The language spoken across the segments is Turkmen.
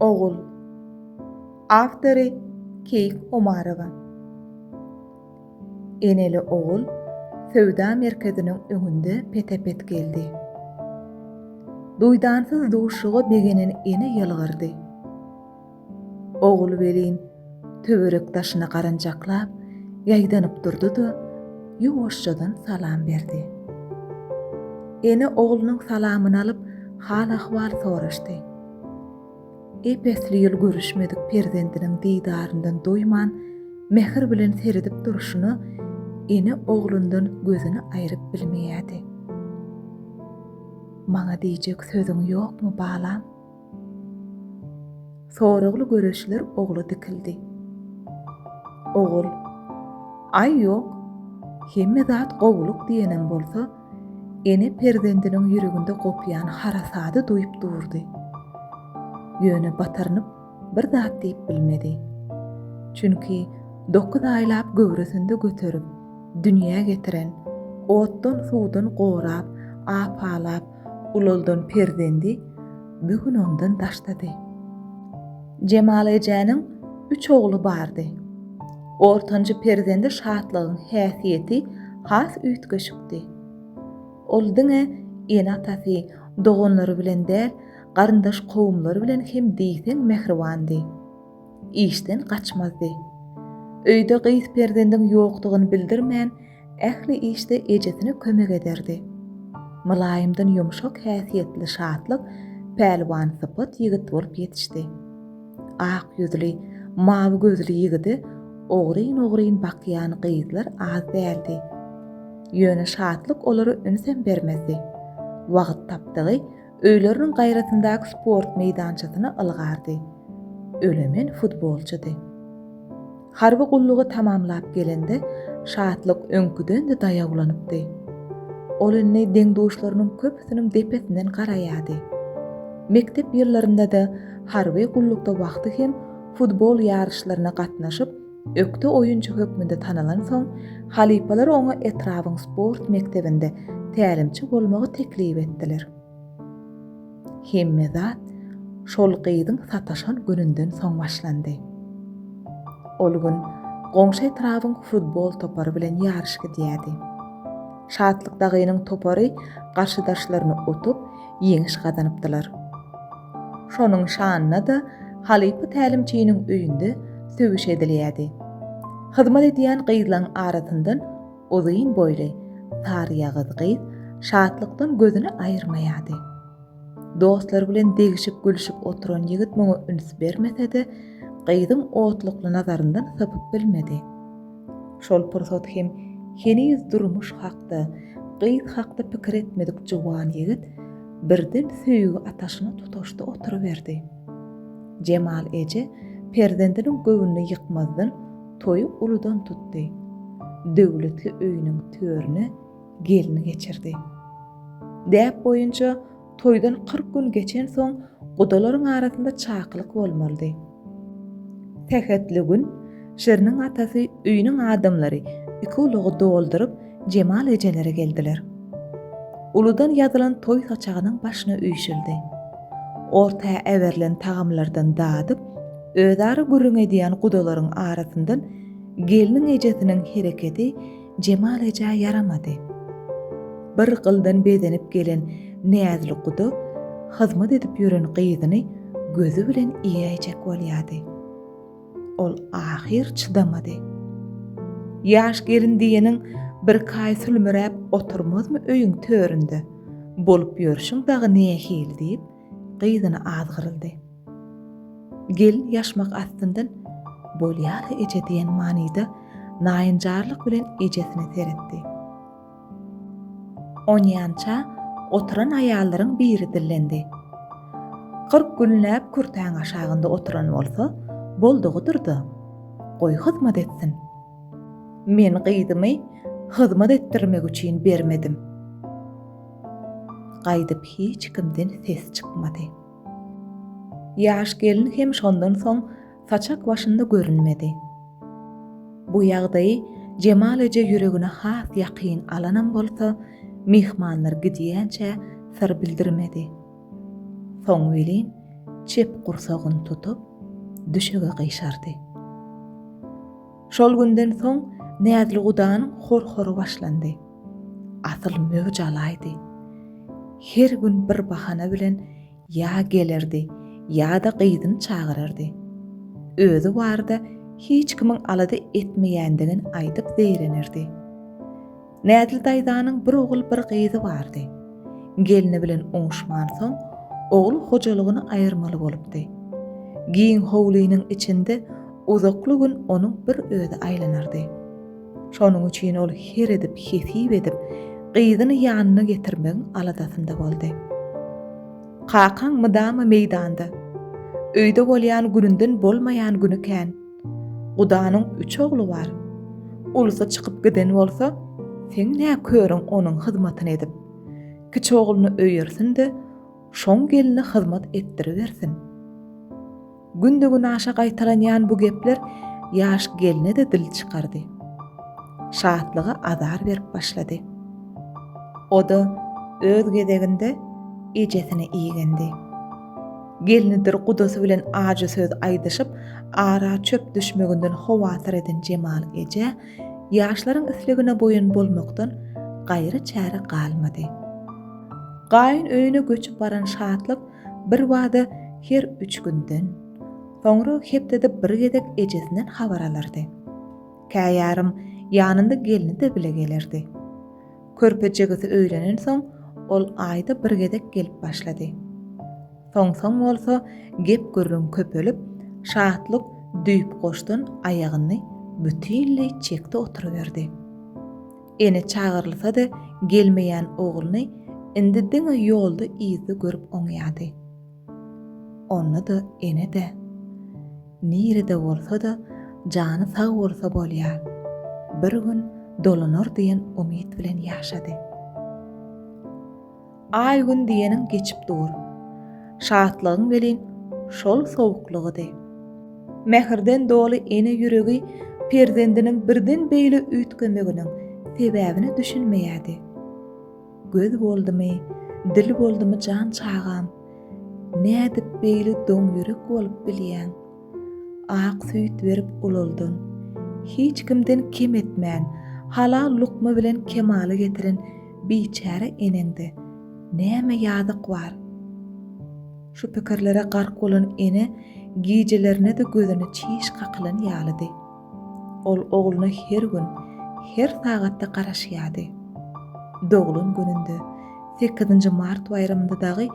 Ogul. Awtory, Keýik Omarowa. Eneli ogul söwda merkeziniň öňünde pete-pet geldi. Duýdansyz duşuga begenen ene ýylgyrdy. Ogul welin Töwerek daşyna garanjaklap, ýaýdanyp durdy-da, ýuwaşjadan salam berdi. Ene oglunyň salamyny alyp, hal-ahwal soraşdy. Ep-esli ýyl görüşmedik perzendiniň didaryndan doýman, mähir bilen seredip durşuna ene oglundan gözüni aýryp bilmeýärdi. Maňa diýjek sözüň ýokmy, balam? Soragly göreçler ogla dikildi. Ogul, Aý ýok, hemme zat gowulyk diýenem bolsa, ene perzendiniň ýüreginde gopýan harasady duýup durdy. Ýöne batyrynyp bir zat diýip bilmedi. Çünki dokuz aýlap göwresinde göterip, dünýä getiren, otdan-suwdan gorap, apalap, ulaldan perzendi bu gün ondan daşdady. Jemal ejäniň üç ogly bardy. Ortanjy perzendi Şatlygyň häsiýeti has üýtgeşikdi. Ol diňe ene-atasy, doganlary bilen däl, garyndaş-kowumlary bilen hem diýseň mähribandy. işden gaçmazdy. Öýde gyz perzendiň ýokdugyny bildirmän, ähli işde ejesine kömek ederdi. Mylaýymdan ýumşak häsiýetli Şatlyk pälwan sypat ýigit bolup ýetişdi. Ak ýüzli, mawy gözli ýigide ogryn-ogryn bakýan gyzlar az däldi. Ýöne Şatlyk olara ünsem bermezdi. Wagt tapdygy Öýleriniň gaýrasyndaky sport meýdançasyna ylgardy. Ölemen futbolçydy. Harby gullugy tamamlap gelende Şatlyk öňküden-de daýawlanypdy. Ol indi deň-duşlarynyň köpüsiniň depesinden garaýardy. Mekdep ýyllarynda-da, harby gullukda wagty hem futbol ýaryşlaryna gatnaşyp, Ökde oýunçy hökmünde tanalansoň, halypalar oňa etrabyň sport mekdebinde tälimçi bolmagy teklip etdiler. Hemme zat şol gyzyň sataşan gününden soň başlandy. Ol gün goňşy etrabyň futbol topary bilen ýaryş gidýärdi. Şatlyk dagynyň topary garşydaşlaryny utup, ýeňiş gazanypdylar. Şonuň şanyna-da halypa tälimçiniň öýünde sögüş edilýärdi. Hyzmat edýän gyzlaň arasyndan uzyn boýly, saryýagyz gyz şatlykdan gözüni aýyrmaýardy. Dostlary bilen degişip-gülşüp oturan ýigit muňa üns bermese-de, gyzyň otlukly nazaryndan sypyp bilmedi. Şol pursat hem heniz durmuş hakda, gyz hakda pikir etmedik juwan ýigit birden söýgi ataşyna tutaşdy oturyberdi. Jemal eje perzendiniň göwnüni ýykmazdan toýy uludan tutdy. Döwletli öýüniň törüne gelni geçirdi. Däp boýunça Toýdan kyrk gün geçensoň gudalaryň arasynda çakylyk bolmalydy. Sähetli gün Şiriniň atasy, öýüniň adamlary iki ulagy dolduryp, Jemal ejelere geldiler. Uludan ýazylan toý saçagynyň başyna üýşüldi. Orta äberilen tagamlardan dadyp, özara gürrüň edýän gudalaryň arasyndan gelniň ejesiniň hereketi Jemal ejä ýaramady. Bir gyldan bezenip gelen Näzli guda hyzmat edip ýören gyzyny gözi bilen iýäýjek bolýady. Ol ahyr çydamady. Ýaş gelin diýeniň birkaý sülmüräp oturmazmy öýüň töründe? Bolup ýörşüň dagy nähili? diýip, gyzyna azgyryldy. Gel ýaşmak astyndan Bolýar-a eje diýen manyda naýynjarlyk bilen ejesine seretdi. Onýança oturan aýallaryň biri dillendi. Kyrk günläp kürtäň aşagynda oturan bolsa, boldugydyr-da. Goý hyzmat etsin. Men gyzymy hyzmat etdirmek üçin bermedim. Gaýdyp hiç kimden ses çykmady. Ýaş gelin hem şondan soň saçak başynda görünmedi. Bu ýagdaýy Jemal eje ýüregine has ýakyn alanam bolsa, myhmanlar gidýänçä syr bildirmedi. Soň welin, çep gursagyny tutup, düşege gyşardy. Şol günden soň Näzli gudanyň hor-hory başlandy. Asyl möwç alaýdy. Her gün bir bahana bilen ýa gelerdi, ýa-da gyzyny çagyrardy. Özi barada hiç kimiň alada etmeýändigini aýdyp zeýrenerdi. Nädil daýzanyň bir ogul bir gyzy bardy. Gelni bilen oňuşmansoň, ogul hojalygyny aýyrmaly bolupdy. Giň howlynyň içinde uzakly gün onuň bir özi aýlanardy. Şonuň üçin ol her edip hesip edip, gyzyny ýanyna getirmegiň aladasynda boldy. Kakaň mydama meýdanda. Öýde bolýan gününden bolmaýan güni kän. Gudanyň üç ogly bar. Ulusy çykyp giden bolsa, seň nä körüň onuň hyzmatyny edip. Kiçi ogluny öýersin-de, şoň gelni hyzmat etdiribersin. Günde-günaşa gaýtalanýan bu gepler ýaş gelne-de dil çykardy. Şatlyga azar berip başlady. O-da öz gezeginde ejesine igendi. Gelnidir gudasy bilen ajy söz aýdyşyp, ara çöp düşmeginden howatyr eden Jemal eje, ýaşlaryň islegine boýun bolmakdan gaýry çäre galmady. Gaýyn öýüne göçüp baran Şatlyk birbada her üç günden, soňra hepdede bir gezek ejesinden habar alardy. Käýarym ýanynda gelni-de bile gelerdi. Körpe jigisi öýlenensoň, ol aýda bir gezek gelip başlady. Soň-soň bolsa gep-gürrüň köpelip, Şatlyk düýpgoşdan aýagyny bütinleý çekdi oturyberdi. Ene çagyrylsa-da gelmeýän ogluny indi diňe ýolda-yzda görüp oňýady. Onda-da ene-de, nirede bolsa-da jany sag bolsa bolýar. Bir gün dolanar diýen umyt bilen ýaşady. Aý-gün diýeniň geçip dur. Şatlygyň welin şol sowuklygydy. Mähirden doly ene ýüregi perzendiniň birden beýle üýtgemeginiň sebäbine düşünmeýärdi. Göz boldumy, dil boldumy jan çagam, nädip beýle doňýürek bolup bilýäň? Ak süýt berip ulaldan, hiç kimden kem etmän, halal lukma bilen kemala getiren biçäre eneňde näme ýazyk bar? Şu pikirlere gark bolan ene gijelerine-de gözüni çiş kakylan ýalydy. Ol ogluna her gün, her sagatda garaşýardy. Doglan gününde, sekizinji mart baýramynda dagy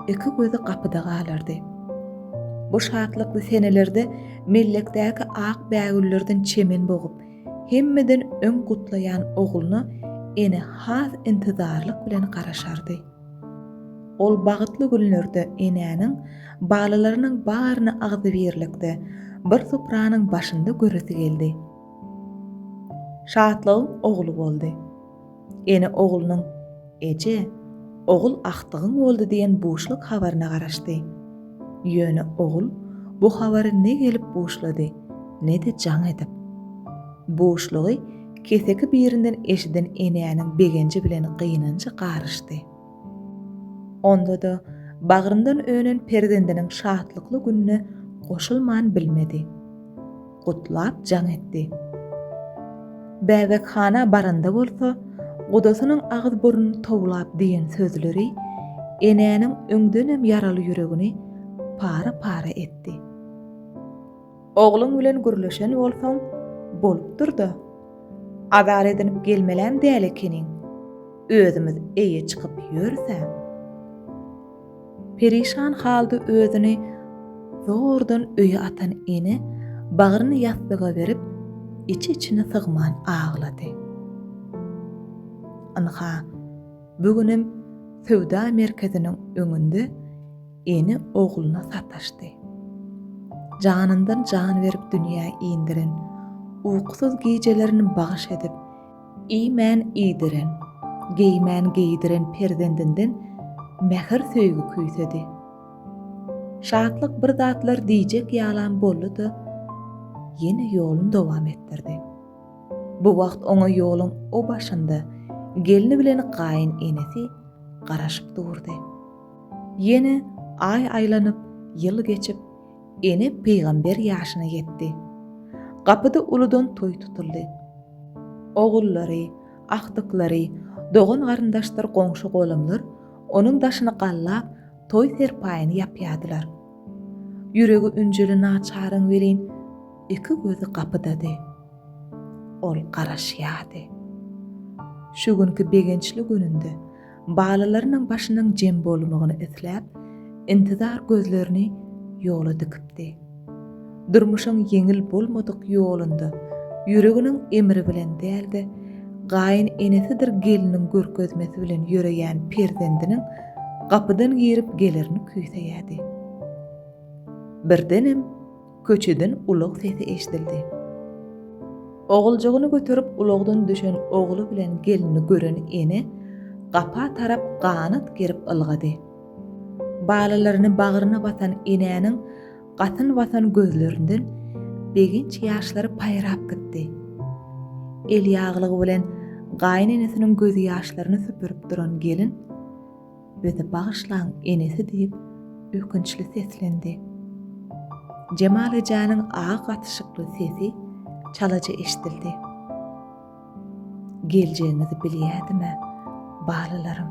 iki gözi gapyda galardy. Bu şatlykly senelerde mellekdäki ak bägüllerden çemen bogup, hemmeden öň gutlaýan ogluna ene has intizarlyk bilen garaşardy. Ol bagtly günlerde enäniň balalarynyň baryny agzybirlikde bir supranyň başynda göresi geldi. Şatlygyň ogly boldy. Ene oglunyň Eje, ogul agtygyň boldy diýen buşluk habaryna garaşdy. Ýöne ogul bu habary ne gelip buşlady, ne-de jaň edip. Buşlugy Keseki birinden eşiden Enäniň begenji bilen gynanjy garyşdy. Onda-da bagryndan önen perzendiniň şatlykly gününe goşulman bilmedi. Gutlap jaň etdi. Bäbekhana baranda bolsa, gudasynyň agyz-burnuny towlap diýen sözleri Enäniň öňdenem ýaraly ýüregini para-para etdi. Ogluň bilen gürleşen bolsaň, bolupdyr-da. Azar edinip gelmelem däl ekeniň. Özümiz eýe çykyp ýörüs-ä. Perişan halda özüni zordan öýe atan ene bagryny ýassyga berip, iç-içine sygman aglady. Ynha, bu günem söwda merkeziniň öňünde Ene ogluna sataşdy. Janyndan jan berip dünýä indiren, Uyksyz gijelerini bagyş edip, iýmän iýdiren, Geýmän geýdiren perzendinden mähir söýgi küýsedi. Şatlyk bir zatlar diýjek ýalam boldy-da, ýene ýolun dowam etdirdi. Bu wagt oňa ýoluň o başynda gelni bilen gaýyn enesi garaşyp durdy. Ýene aý aýlanyp, ýyl geçip, ene pygamber ýaşyna ýetdi. Gapyda uludan toý tutuldy. Ogullary, agtyklary, dogan-garyndaşdyr goňşy-golamlar onuň daşyny gallap, toý serpaýyny ýapýardylar. Ýüregi ünjeli naçaryň welin, iki gözi gapydady. Ol garaşýardy. Şu günki begençli gününde Balalarynyň başynyň jem bolmagyny isläp, intizar gözlerini ýola dikipdi. Durmuşyň ýeňil bolmadyk ýolunda ýüreginiň emri bilen däl-de, gaýyn enesidir gelniň görkezmesi bilen ýöreýän perzendiniň gapydan girip gelerini küýseýärdi. Birdenem. Köçeden ulag sesi eşidildi. Oguljygyny göterip ulagdan düşen ogly bilen gelini gören ene gapa tarap ganat gerip ylgady. Balalaryny bagryna basan enäniň gatyn basan gözlerinden begenç ýaşlary paýrap gitdi. Elýaglygy bilen gaýynenesiniň gözýaşlaryny süpürip duran gelin, Bizi bagyşlaň, enesi diýip, ökünçli seslendi. Jemal ejäniň agy gatyşykly sesi çalaja eşidildi. Geljegiňizi bilýädim-ä, balalarym.